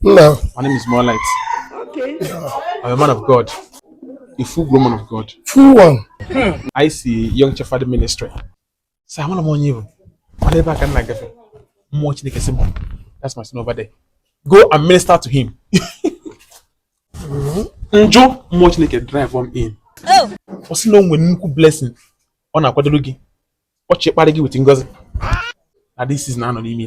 No. My name is Moonlight. Okay. Yeah. I'm a man of God. A full grown man of God. Full one. Hmm. I see Young Shepherd Ministry. So I want to warn you. Whatever I can like that. Mmụọ Chineke sị m. That's my son over there. Go and minister to him. Mm-hmm. Njo Mmụọ Chineke drive m in. Oh. Ọ sị na o nwere nnukwu blessing ọ na-akwadoro gị ọ chọ ịkparị gị with ngozi na this season a nọ n'ime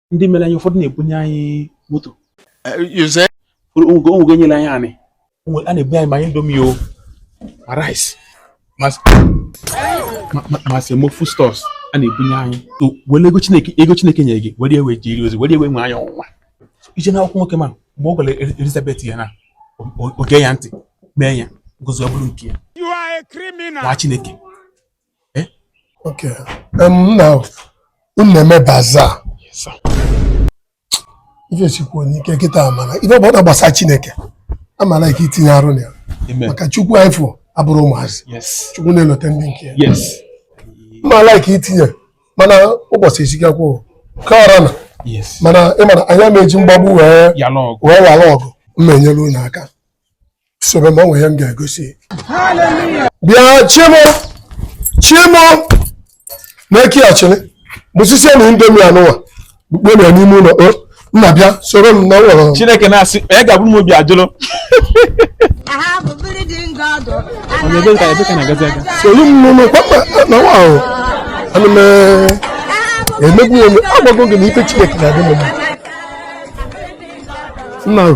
ndị mere anyị ụfọdụ na-ebunye anyị moto onwego nyere anyị anị a na-ebunye anyị ma indomi o ma rice ma semo foodstuffs a na-ebunye anyị were ego chineke ego chineke nyere gị were ewe jiri ozi were ewe nwe anyị ọnwụnwa i jee na akwụkwọ nwoke ma mgbe ọ gwara Elizabeth ya na oge ya ntị mee ya ngozi ọ bụrụ nke ya nwa chineke Eh? Okay. Um, now, unu na-eme bazaar. Yes, sir. Ife sikwu onye ike kịta mana. Ife ọbụna gbasa Chineke. Amara ike itinye arụ na ya. Maka Chukwu anyị fụ abụrọ ụmụazị. Yes. Chukwu na-elote ndị nke ya. Yes. Amara ike itinye mana ụbọchị esikakwa ka ọra na. Yes. Mana ị ma na anyị ama eji mgbagbu wee ghara ọgụ. M na-enyere unu aka. sobe ma ọ nwere ihe m ga-egosi bịa chi m o chi m o na-eki achịlị biscuit na indomi anụwa kpukpe na n'ime ụlọ o nna bịa soro m naa ụlọ chineke na-asị onye ga-abụ m obi ajụlụ soro m n'ụlọ kwakwa na nwa ahụ ana m emegbu onwe agwago gị na ife chineke na-adị m mma nna ahụ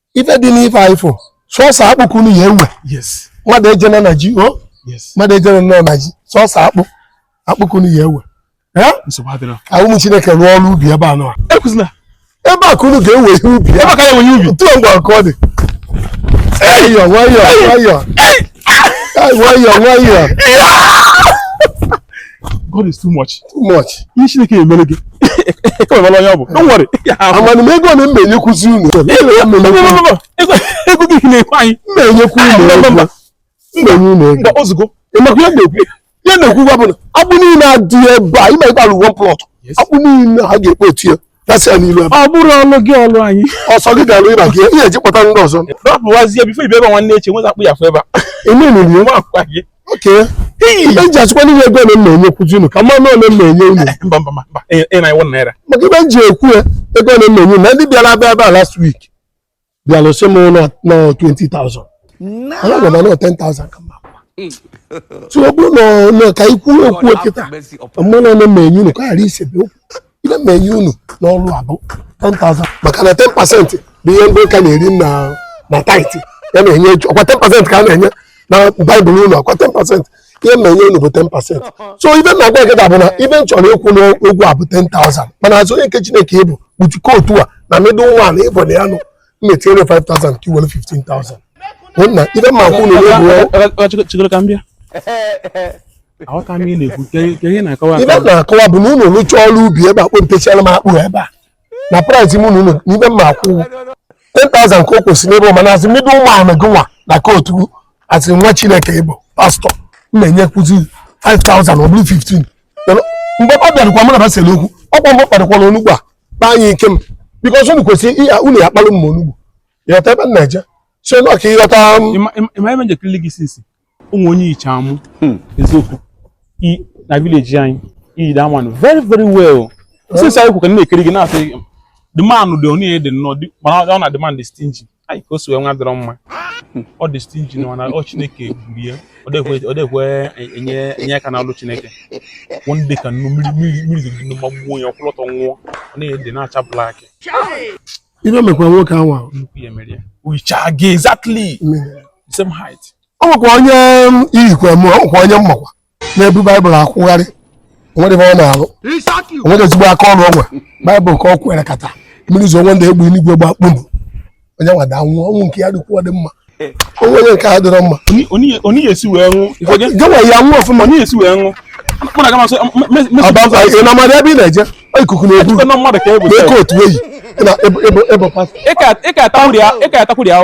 ife dị n'ife anyị fụ sọsọ akpụ ka unu ya-ewe mmadụ ejena na ji o mmadụ ejena nọ na ji sọsọ akpụ akpụ ka unu ya-ewe ka ụmụ chineke rụọ ọrụ ubi ebe a nọ ebe a ka unu ga-ewe ihe ubi ebe a ka a ya-ewe ihe ubi tụọ mgbe ọkụ ọ dị nwayọọ nwayọọ nwayọọ nwayọọ nwayọọ God is too much. Too much. Ihe Chineke emere gị. Ekwemela onye ọ bụ. Don't worry. Amana m ego ole m na-enyekwuzi unu. Ego gị na-ekwe anyị. M na-enyekwu unu ego. M na-enye unu ego. Mba ozugbo. Ị makwa ihe a na-ekwu. Ihe a na-ekwu gwa bụ na akpụ niile a dị ebe a. Ị ma ebe a lu one plot. Akpụ niile ha ga-ekpe otu ya. gasịa n'ilu ebe ọ bụrụ ọlụ gị ọlụ anyị ọsọ gị ga-alụ ịba gị ihe eji kpọta ndị ọzọ rọpụwazie before ị bịa ebe a nwanne echi nweza akpụ ya fụ ebe a eme n'ilu nwa akwa gị okay ihe eji achịkwa n'ihe ego ole m na-enyekwuzi unu ka mmanụ ole m na-enye unu mba mba mba mba ị na iwu naira maka ife m ji ekwu ya ego ole m na-enye unu na ndị bịara abịa ebe a last week bịara sị m na ọ 20,000 ana gwa m na ọ 10,000 ka mma so ọ bụrụ na ọ- na ka ikwu okwu kịta m malụ ọnụ m ma-enye unu ka ọ ghara isebe okwu ihe m ma-enye unu n'ọrụ a bụ 10,000 maka na 10 pasentị bụ ihe ndị ụka na-eri na na tithe a na-enye ọkwa 10 pasentị ka a na-enye na baịbụl unu ọkwa 10 pasentị ihe m na-enye unu bụ 10 pasent so ive m na-agwa gị ga-abụ na ive m chọrọ ịkwụ n'ụgwọ a bụ 10,000 mana as onye nke chineke ị bụ kpuchikọ otu a na middle man ị bụ na ya nụ m na-etinyere 5,000 ka i were 15,000 na ive m ma-akwụ unu n'ụgwọ chigoro ka m bịa aghọta m ihe ị na-ekwu ka ihe ị na-akọwa ive m na-akọwa bụ na unu rụchaa ọrụ ubi ebe a kpempechara m akpụ ebe a na price m unu n'ive m ma-akwụ 10,000 ka o kwesịrị n'ebe mana as middle man gịnwa na kootu as nwa chineke ị bụ pastọ m na-enyekwuzi 5,000 ọ bụrụ 15 mgbe ọ bịarụkwa mụ na basịrị okwu ọkwa mgbe kpadokwara onugbu a kpa anyị ike m because unu kwesịrị ihe unu ya kpalụ m onugbu ị ghọta ebe m na-eje so na ọ ka ị ghọta o nwe onye i yicha m hmm. eziokwu na village anyị i yi that man very very well since anyị kwụ ka na-ekiri gị na-asị the man dị onye dị nnọọ mana ọ na the man dị stingy anyị ka o si wee nwụ adịrọ mma ọ dị stingy na mana ọ chineke gburu ya ọ dịkwe enye aka n'ọlụ chineke one day ka nnu mmiri mmiri zogide amụma gbuo ya ọ kwụlụ ọtọ nwụọ ọ na-adị na-acha black ive mekwa nwoke anwa nnukwu ihe mere ya o yicha gị exactly same height ọ nwekwa onye i yikwa m ọ nwekwa onye m makwa na-ebu baịbụl akwụgharị o nwerọ ife ọ na-alụ o nwerọ ezigbo aka ọlụ o nwe baịbụl ka ọ kwere kata mmiri zo one day egbe eluigwe gba kpum onye nwa daa nwụọ ọnwụ nke ya dịkwuo dị mma onye nke a adịrọ mma onye esi wee nwụ gịnwa ya nwụ ọfụma onye esi wee nwụ ị na-amarọ ebe ị na-eje ikuku na-ebu na-eke otu eyi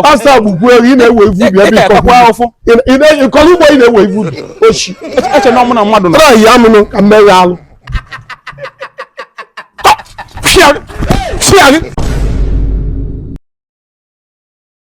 pastọ agbụgbu ewu ị na-ewe ive ubi ebe ị kọrọ ugbo ị na-ewe ive ubi ochi trayi ya mụnụ ka mmeghe alụ Chiari! Chiari!